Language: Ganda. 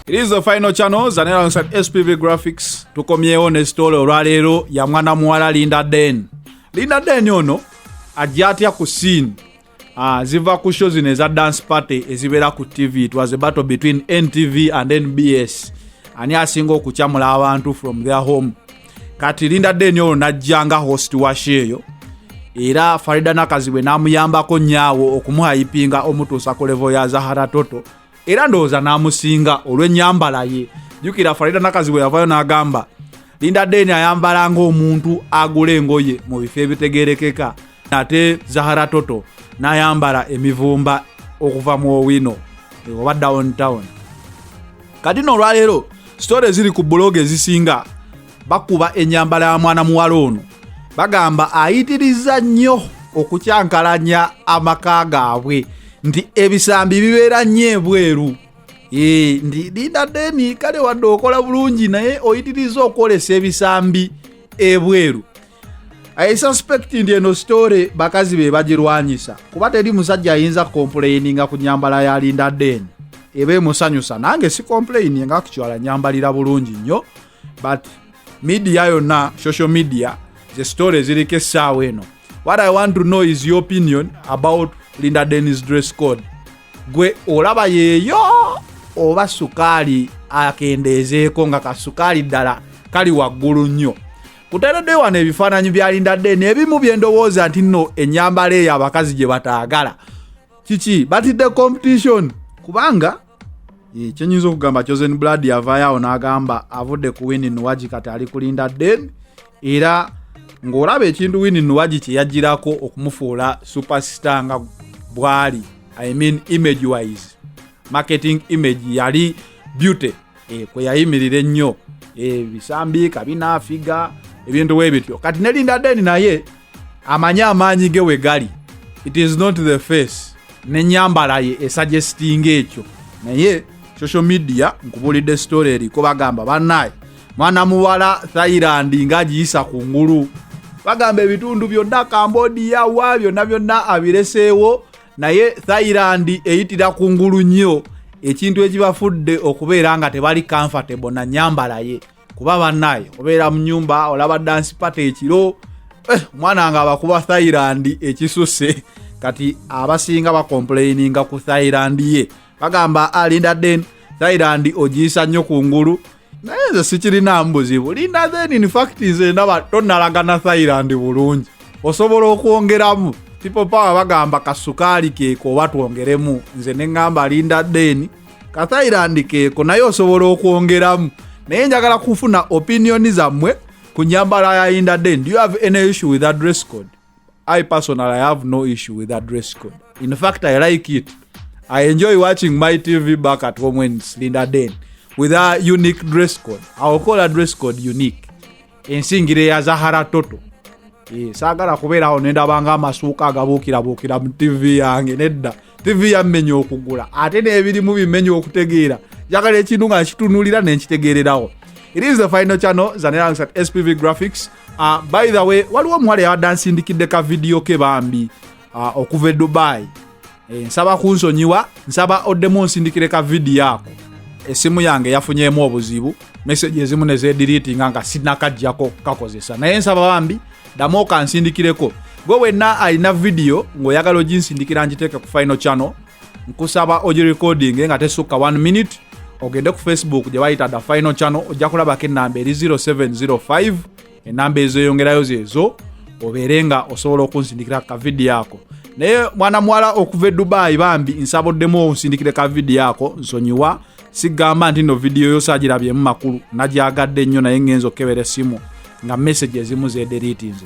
It is the final channel zanera alongside SPV Graphics. Tukomyewo ne story olwaleero ya mwana muwala Linda Den. Linda Den ono ajja atya ku scene Ah, ziva ku show zino eza dance party ezibeera ku tv it was a battle between ntv and nbs ani asinga okucamula abantu from their home kati linda deni ono najja nga host wa sheeyo era farida nakazibwe namuyambako nyaawo okumuhayipinga omutuusa ku levo ya zahara toto era ndowooza namusinga olwenyambala ye jukira farida nakazibwe yavayo nagamba linda deni ayambala ngaomuntu agula engoye mu bifo ebitegerekeka ate zahara toto nayambala emivumba okuva mu owino oba downtown kati no olwaleero sitore eziri ku buloga ezisinga bakuba enyambala ya mwana muwala ono bagamba ayitiriza nnyo okukyankalanya amaka gaabwe nti ebisambi bibeera nnyo ebweru eh, ndi linda deni kale wadde okola bulungi naye oyitiriza okwolesa ebisambi ebweru i suspect ndi eno story bakazi be bagirwanyisa kuba teri musajja ayinza complaininga ku nyambala ya linda den eba emusanyusa nange si complaini nga kukyala nyambalira bulungi nnyo but midiya yonna social media ze story eziriko essaawa eno what i want to know is your opinion about linda denis dress code gwe olaba yeeyo oba sukaali akendeezeeko nga kasukaali ddala kali waggulu nnyo kutadadde wano ebifaananyi bya linda den ebimu byendowooza nti nno enyambala eyo abakazi gye bataagala kiki batidde competition kubanga eh, kyenyinza okugamba chosen blood yavaayo awo n'agamba avudde ku wini nuwagi kati ali ku linda den era ng'olaba ekintu wini nuwagi kye yajjirako okumufuula superstar nga bwali i mean image wise marketing image yali beauty eh, kwe yayimirira ennyo eh, bisambi kabina figa ebintu we bityo kati ne linda deni naye amanyi amaanyi ge we gali it is not the face nenyambala ye esajestinga ekyo naye social media nkubulidde story eriko bagamba banaye mwana muwala thailand ngagiyisa ku ngulu bagamba ebitundu byonna cambodia wa byonna byonna abireseewo naye thailand eyitira ku ngulu nnyo ekintu ekibafudde okubeera nga tebali comfortable na nyambala ye kuba banaye obeera mu nyumba olaba dansi pata ekiro eh, omwana nga abakuba thailand ekisuse kati abasinga bakomplaininga ku thailand ye bagamba alinda den thailand ogiyisa nnyo ku ngulu naye nze sikirina mbuzibu linda then in fact nze ndaba tonalagana thailand bulungi osobola okwongeramu people power bagamba kasukaali keeko oba twongeremu nze neŋŋamba linda then ka thailand keeko naye osobola okwongeramu naye njagala kufuna opinioni zammwe ku nyambala ya inda then do you have any issue with adress code I personally I have no issue with that dress code. In fact, I like it. I enjoy watching my TV back at home when it's Linda Dane with her unique dress code. I will call her dress code unique. Ensingire ya Zahara Toto. Eh, saagala kubeera awo nendaba nga amasuuka agabuukirabuukira mu tivi yange nedda tivi yammenya okugula ate n'ebirimu bimenya okutegeera njagala ekintu nga nkitunulira nenkitegeererawo it is the final channel zanerangisa spv graphics Uh, by the way waliwo omuwala yabadde ansindikidde ka vidiyo ke bambi uh, okuva e dubai e, nsaba kunsonyiwa nsaba oddemu onsindikire ka vidiyo ako esimu yange yafunyemu obuzibu meseji ezimu nezediritinga nga sinakajjako kakozesa naye nsaba bambi ddamu okansindikireko gwe wenna alina vidiyo ng'oyagala oginsindikira ngiteeke ku final channel nkusaba ogi recording nga tesukka 1 minute ogende ku facebook gye bayita the final channel ojja kulabako enamba eri 0705 enamba ezoyongerayo zezo obeere nga osobola okunsindikira ku kavidiyo ako naye mwana muwala okuva e dubayi bambi nsaboddemu onsindikire ka vidiyo ako nsonyiwa sigamba nti no vidiyo yosagirabyemu makulu nagyagadde nnyo naye ngenza okukebera essimu nga message ezimu zederitinze